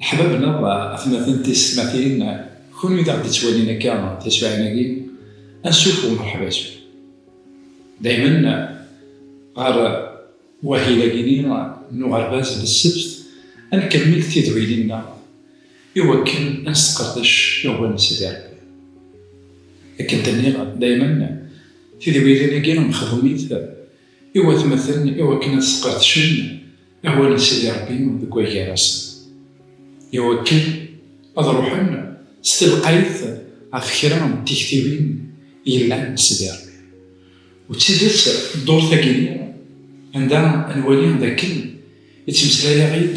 Leḥbab neɣ atmaten tisetmatin, kunwi d aɣ-d-ittwalin akka tasuɛin-agi, ansuf umṛeḥba-agi. Daymen ɣer wahil-agi-ni n uɣerbaz n ssebt, ad nkemmel tidɣilin-nneɣ i wakken ad nesqerdec iɣwel n Sidi Ṛebbi. Akken d-nniɣ daymen, tidɣilin-agi mexdumit. i watmaten i wakken ad sqedcen awal n Sidi Ṛebbi deg wagar-asen, i wakken ad ruḥen s telqayt ɣef kra n tiktiwin yellan n Sidi Ṛebbi. U d tidet, ddurt-agi-nni, anda nwali d akken ittmeslay-aɣ-id,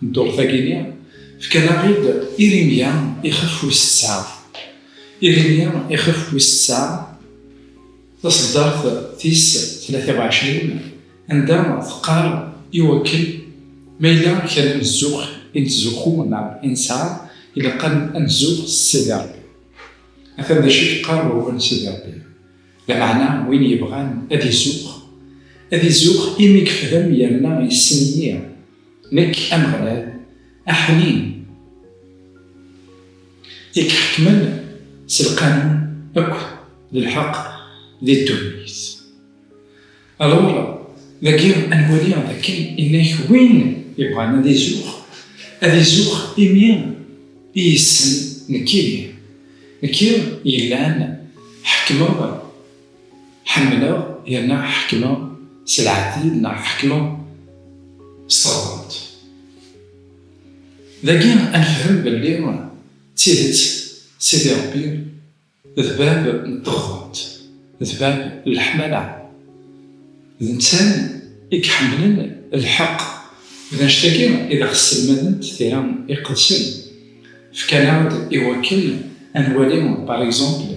Dduṛt-agi-nni, fkan-aɣ-id Irimya ixef wis tesɛa. Irimya ixef wis tesɛa, taṣeddart tis tlata u ɛecrin, anda teqqar i wakken ma yella kra n zzux i nettzuxxu neɣ i nesɛa, ilaq ad nezzuɣ s Sidi Ṛebbi. Atan d acu i yeqqar wawal n Sidi Ṛebbi, lameɛna win yebɣan ad izuxx, ad izuxx imi yefhem yerna yessen-iyi. Nekk, Ameɣlal, aḥnin, i iḥekmen s lqanun akk d lḥeqq di ddunit. Alur, dagi ad nwali d akken innak win yebɣan ad izux, ad izux imi i yessen nekk ihi, nekk yellan ḥekmeɣ Ḥemmleɣ yerna ḥekmeɣ s lɛeddil neɣ ḥekmeɣ s teɣdemt. Dagi ad nefhem belli d tidet Sidi Ṛebbi d bab n teɣdemt, d bab n leḥmala. D netta i iḥemmlen lḥeqq. D annect-agi i d aɣ-sselmadent tira iqedsen. Fkan-aɣ-d i wakken ad nwali par exemple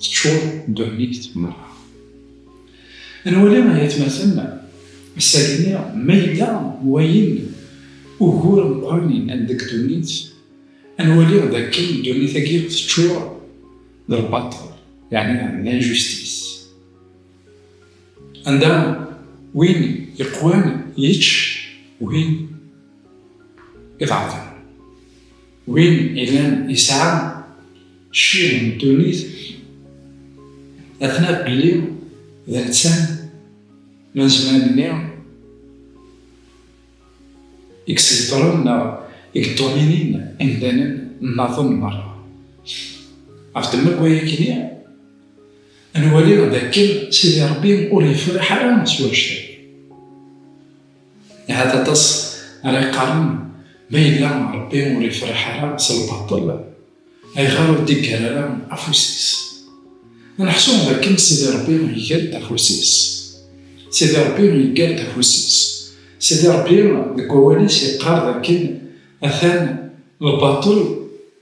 Teččur ddunit merra. Ad nwali ay atmaten, ass-agi-nni ma yella wayen ugur meqqren yennan deg ddunit, ad nwali d akken ddunit-agi teččur d lbaṭel, yeɛni d l'injustice. Anda win yeqwan yečč win iḍeɛfen. Win ilan yesɛa cci n ddunit, ad naf belli d netta n azman-nni i yesbedren neɣ i yeḍḍuminin imdanen nnaḍen merra. Ɣef ddemma n wayagi-nni, ad nwali d akken Sidi Ṛebbi ur yefriḥ ara s wanect-agi. Ahat aṭas ara iqqaren, Ma yella Ṛebbi ur ifṛiḥ ara s lbaṭel, ayɣer ur d-iggar ara afus-is? Aneḥsub dakken Sidi Ṛebbi iger-d afus-is? Sidi Ṛebbi yeggar-d afus-is. Sidi Ṛebbi deg wawal-is yeqqar dakken atan lbaṭel.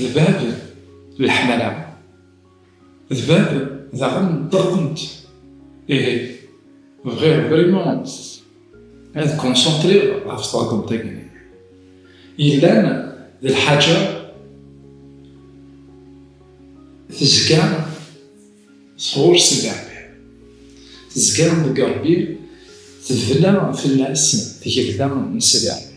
D bab n leḥmala, d bab daɣen n teɣdemt. Ihi, bɣiɣ vraiment ad concentriɣ ɣef teɣdemt-agi yellan d lḥaǧa tezga sɣur Sidi Rebbi, tezga deg Rebbi, tebna fell-as tgelda n Sidi Rebbi.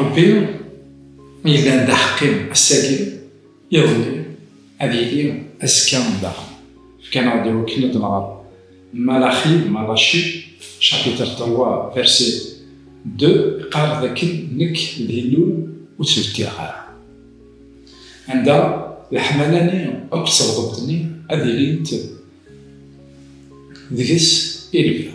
Ṛebbi mi yellan d aḥeqqi ass-agi, iḍelli, ad yili azekka daɣen. Fkan-aɣ-d i wakken ad nɣer Malaxi, Malachi, chapitre trois verset deux, iqqar d akken nekk d Illu ur ttbeddileɣ ara. Anda leḥmala-nni akked tebḍelt-nni ad ilint deg-s i lebda.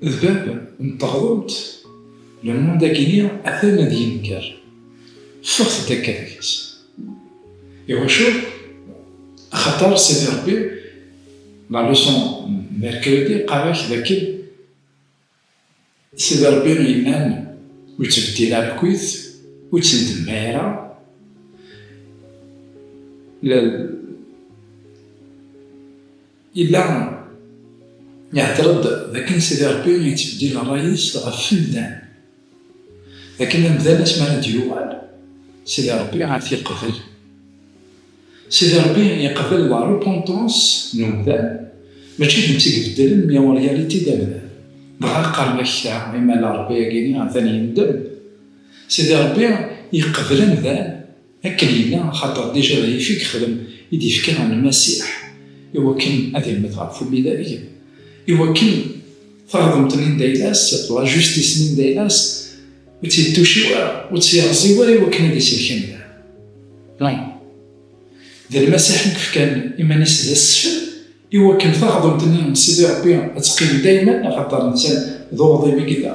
D bab n teɣrumt, le monde-agi-nni atan ad yenker. Ffɣet-d akka deg-s. Iwacu? Axaṭer Sidi Ṛebbi, la leçon n mercredi, yeqqar-ak d akken Sidi Ṛebbi yenna-n, ur ttbeddil ara akkit, ur ttendemma ara, le. Yella ihder-d d akken Sidi Rebbi yettbeddil rray-is ɣef wemdan, d akken amdan asmi ara d-yuɣal Sidi Rebbi ad t-yeqbel. Sidi Rebbi yeqbel la repentance n umdan, mačči d netta i ibeddlen mais en réalité d amdan. Dɣa qqaren akka i ma la Rebbi agini atan yendem. Sidi Rebbi yeqbel amdan. Akken yella, axaṭer dija d ayefki yexdem i d-yefka Lmasiḥ i wakken ad immet ɣef umidag, i wakken taɣdemt n indayla-s, la justice n indayla-s, ur tt-yettuciw ara, ur tt-yerẓiw ara i wakken ad isellek amdan. Lan. D Lmasiḥ i yefkan iman-is d asfel i wakken taɣdemt-nni n Sidi Rebbi ad teqqim daymen, axaṭer netta d uɣdim i yella.